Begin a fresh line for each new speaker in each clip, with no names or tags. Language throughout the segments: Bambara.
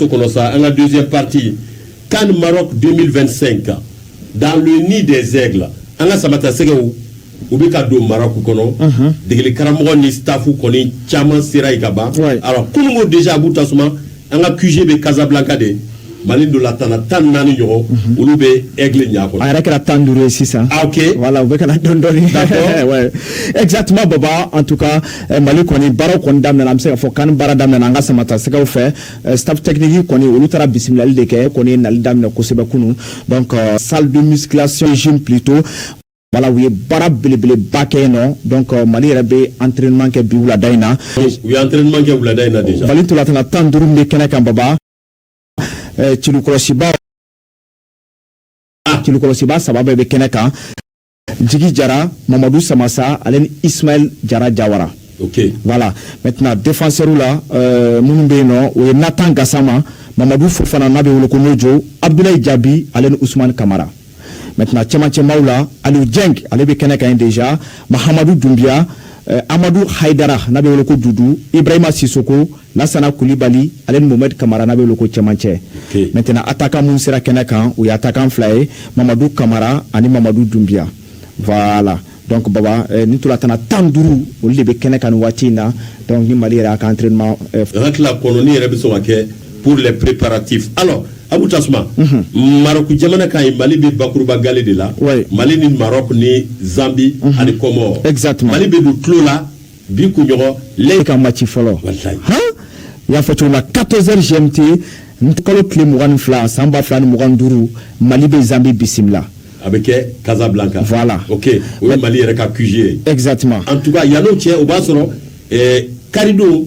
To kɔnɔ sa an ka deuxième partie CAN Maroc 2025 dans le nid des aigles an ka samatasɛgɛw u bɛ ka don Maroc kɔnɔ degeli karamɔgɔ ni staff kɔni caman sera yen ka ban alors kunun ko déjà Abu Tasuma an ka QG bɛ Casablanca de Mali ntolatanna tan ni naani ɲɔgɔn olu bɛ aigle ɲaga kɔnɔ a yɛrɛ kɛra tan ni duuru
ye sisan ah ok voilà u bɛ
ka na dɔɔni dɔɔni
ouais exactement Baba en tout cas Mali kɔni baaraw kɔni daminɛna an bɛ se ka fɔ CAN baara daminɛna an ka samatasɛgɛw fɛ Euh, staff technique kɔni olu taara bisimilali de kɛ u kɔni ye nali daminɛ kosɛbɛ kunun donc euh, salle de musculation gym plutôt voilà u ye baara belebeleba kɛ yen nɔ donc euh, mali yɛrɛ bɛ entraînement kɛ bi wulada in na u ye
entraînement kɛ wulada in na déjà mali ntolatanna tan ni
duuru minnu bɛ kɛnɛ kan baba celukɔlɔsibaa celukɔlɔsibaa saba bɛɛ bɛ kɛnɛ kan jigi jara mamadu samasa ale ni ismail jara jawara okay. voilà
maintenant
défenseur la euh, minnu bɛ yen nɔ o ye natan gasama mamadu fofana n'a bɛ wele ko nojo abdulayi jabi ale ni usman kamara maintenant cɛmancɛmaw la aliou dieng ale bɛ kɛnɛ kan ye déjà mahamadu dunbiya euh, amadu haidara n'a bɛ wele ko dudu ibrahima sisoko Lasana Kulibali ale ni Mohamed Kamara n'a bɛ wele ko cɛmancɛ okay. maintenant attaquant minnu sera kɛnɛ kan u ye attaquant fila ye Mamadu Kamara ani Mamadu Dunbiya voilà donc baba eh, nin ntolatanna tan ni duuru olu de bɛ kɛnɛ kan nin waati in na donc ni Mali yɛrɛ a ka entraînement eh, hakili
kɔnɔ ni yɛrɛ bɛ sɔn ka kɛ pour les préparatifs alors abu tasuma mm -hmm. maroc jamana kan yen mali bɛ bakuruba gale de la ouais. mali ni maroc ni zambie mm -hmm. ani comore exactement mali bɛ don
tulon la
bi kunɲɔgɔn ale ka maci
fɔlɔ n y'a fɔ cogo na 14 heures gmt nin kalo tile mugan ni fila san ba fila ni mugan duuru mali bɛ zambi bisimila a bɛ
kɛ Casablanca voilà ok
o ye
mali yɛrɛ ka QG ye exactement en tout cas
yan n'o cɛ
o b'a sɔrɔ eh, karidon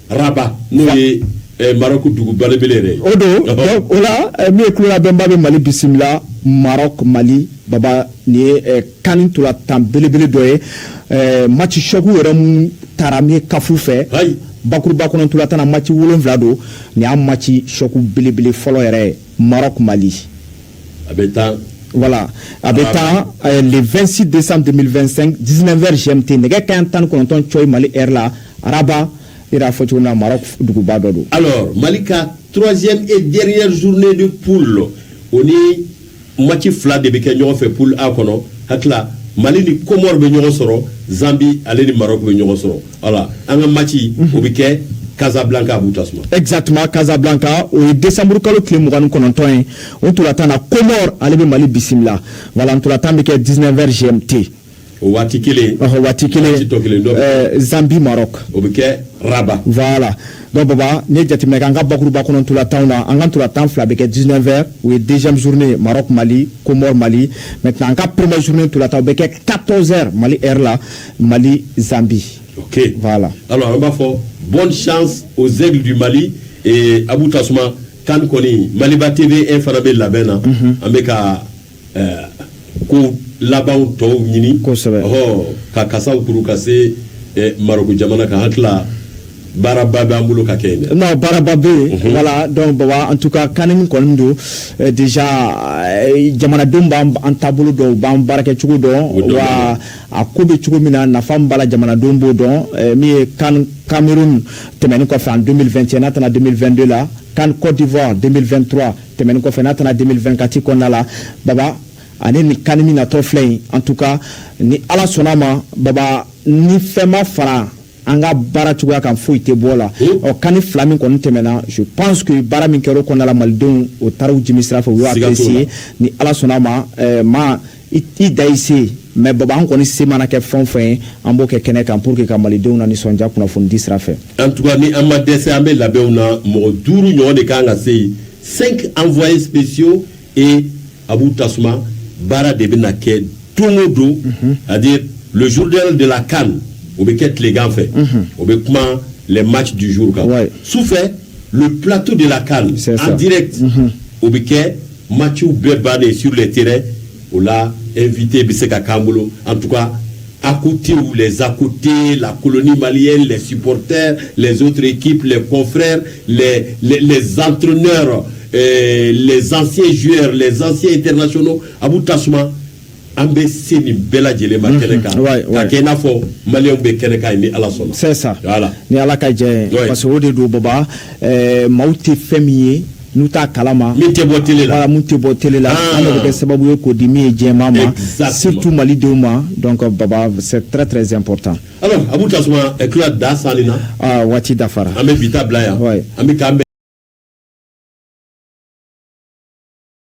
Rabat n'o ye Maroc dugu belebele yɛrɛ o don
o la min ye ko labɛnbaa bɛ mali bisimila Maroc mali baba nin ye CAN nin ntolatan belebele dɔ ye match choc yɛrɛ minnu taara min CAF fɛ bakuruba kɔnɔ ntolatan na match wolonwula don nin y'a match choc belebele fɔlɔ yɛrɛ ye Maroc Mali a bɛ
tan
voilà a bɛ tan euh, le 26 décembre 2025 19 heures GMT nɛgɛ kaɲɛ tan ni kɔnɔntɔn cɔyi Mali heure la à Rabat i yɛrɛ y'a fɔ cogo min na Maroc duguba dɔ
don. alors Mali ka troisième et dernière journée de poule o ni match fila de bɛ kɛ ɲɔgɔn fɛ poule A kɔnɔ hakili la Mali ni Comores bɛ ɲɔgɔn sɔrɔ Zambie ale ni Maroc bɛ ɲɔgɔn sɔrɔ. voilà an ka maci o bɛ kɛ Casablanca Abou Tassouma exactement
Casablanca o ye décembre kalo tile mugan ni kɔnɔntɔn ye o ntolantan na Comores ale bɛ Mali bisimila voilà ntolantan bɛ kɛ 19 heures GMT o waati kelen
ɔhɔ waati kelen waati tɔ kelen dɔ
ɛɛ Zambie Maroc o bɛ
kɛ Rabat
voilà donc baba n'i ye jateminɛ kɛ an ka bakuruba kɔnɔ ntolantanw na an ka ntolantan fila bɛ kɛ 19 heures o ye deuxième journée Maroc Mali Comores Mali maintenant an ka première journée ntolantan o bɛ kɛ 14 heures Mali heure la Mali Zambie. Ok.
Voilà. Alors, an
b'a fɔ
bonne chance aux aigles du Mali et Abou Tassouma, CAN kɔni Maliba TV an fana bɛ labɛn na. Mhm. An bɛ ka euh, ko labanw tɔw ɲini. Kosɛbɛ. Ɔhɔ, ka kasaw kuru ka se eh, Maroko jamana kan. Hakili la baaraba bɛ an bolo ka kɛ yen dɛ. Non, baaraba bɛ
yen. Mhm. Voilà, donc Baba, en tout cas, CAN min kɔni don, euh, déjà, euh, jamanadenw b'an an taabolo dɔn, u b'an baarakɛcogo dɔn, wa a ko bɛ cogo min na nafa min b'a la jamanadenw b'o dɔn eh, min ye CAN cameroun tɛmɛni kɔfɛ en 2021 n'a tanna 2022 la CAN côte d'ivoire 2023 tɛmɛni kɔfɛ n'a tanna 2024 kɔnɔna la baba ani ni CAN min natɔ filɛ in en tout cas ni ala sɔnna ma baba ni fɛn ma fara an ka baara cogoya kan foyi tɛ bɔ la o CAN nin fila min kɔni tɛmɛna je pense que baara min kɛra o kɔnɔna la malidenw o taara u jimi sira fɛ u y'o apprécier ni ala sɔnna ma eh, ma i da i se mais baba an kɔni se mana kɛ fɛn o fɛn ye an b'o kɛ kɛnɛ kan pour que ka malidenw na nisɔndiya kunnafonidi sira fɛ en tout cas ni an ma
dɛsɛ an bɛ labɛnw na mɔgɔ duuru ɲɔgɔn de kan ka se yen cinq envoyés spéciaux et Abou Tassouma baara de bɛna kɛ don o don c'est-à-dire le journal de la CAN o bɛ kɛ tilegan fɛ o bɛ kuma les matchs du jour kan Ouais. sufɛ le plateau de la CAN C'est ça. en direct o bɛ kɛ matchw bɛɛ bannen sur les terrains o la invité bɛ se ka k'an bolo en tout cas À côté ou les à côtés, la colonie malienne, les supporters, les autres équipes, les confrères, les, les, les entraîneurs, euh, les anciens joueurs, les anciens internationaux, Abou Tassouma, an bɛ se nin bɛɛ lajɛlen ma kɛnɛ kan ka kɛ i n'a fɔ maliyɛnw bɛ kɛnɛ kan ni ala sɔnna c'est ça voilà ni
ala ka jɛ ye parce que o de don baba ɛɛ maaw tɛ fɛn min ye n'u t'a kalama min tɛ bɔ tele
la min tɛ bɔ tele
la ah. an bɛ kɛ sababu ye k'o di min ye jama ma surtout malidenw ma donc baba c'est très très important alors Abou
Tassouma eh, kila da
sali
na ah, waati dafara an bɛ bi ta
bila
yan an bɛ k'an